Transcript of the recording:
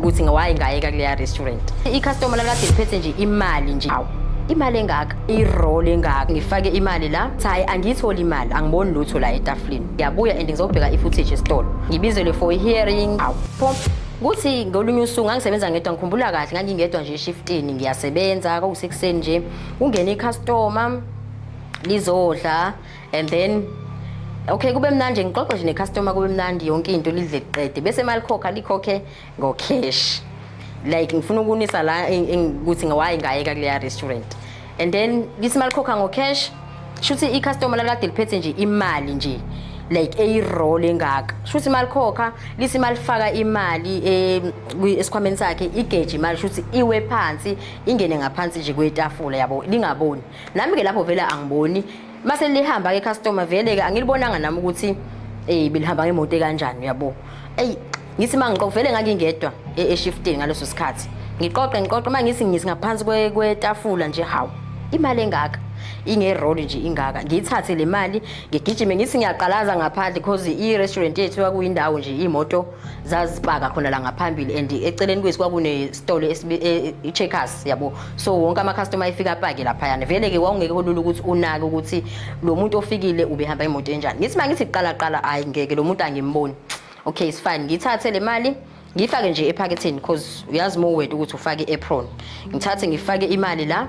ukuthi ngawaye ngayeka kuleya restaurant icustomer lalade liphethe nje imali nje awu imali engaka i-roll engaka ngifake imali la thayi angiyitholi imali angiboni lutho la etafuleni ngiyabuya and ngizobheka i-footage esitolo ngibizelwe for i-hearing awu pho kuthi ngolunye usuku ngangisebenza ngedwa ngikhumbula kahle ngangingedwa nje eshiftini ngiyasebenza kwakusekuseni nje kungena icustomer lizodla and then okay kube mnandi ngixoxe nje necustomer kube mnandi yonke into lidle liqede bese malikhokha likhokhe ngocash like ngifuna ukunisa la ukuthi ngawayi ngayeka kuleya restaurant and then lithi malikhokha ngocash shuthi icustomer lalade liphethe nje imali nje like eyi-roll engaka shuthi malikhokha lithi malifaka imali eh, esikhwameni sakhe igeje imali shuthi iwe phansi ingene ngaphansi nje kwetafula yabo lingaboni nami-ke lapho vele angiboni Mase lihamba ke customer vele ke angilibonanga nami ukuthi eh belihamba ngemoto kanjani uyabo. Ey ngithi mangiqoqa vele ngangingedwa e shiftini ngaleso sikhathi. Ngiqoqe ngiqoqe uma ngisi ngisi ngaphansi kwe kwetafula nje hawu imali engaka inge roll nje ingaka ngiyithathe le mali ngigijime ngithi ngiyaqalaza ngaphandle because i restaurant yethu kwakuyindawo nje imoto zazipaka khona la ngaphambili and eceleni kwethu kwakunesitolo e, i-checkers yabo so wonke ama-customer efika apake laphayana vele-ke wawungeke olula ukuthi unake ukuthi lo muntu ofikile ubehamba imoto enjani ngithi uma ngithi qala hhayi ngeke lo muntu angimboni okay it's fine ngithathe le mali ngiyifake nje ephaketheni because uyazi uma uweta ukuthi ufake i-apron ngithathe ngifake imali la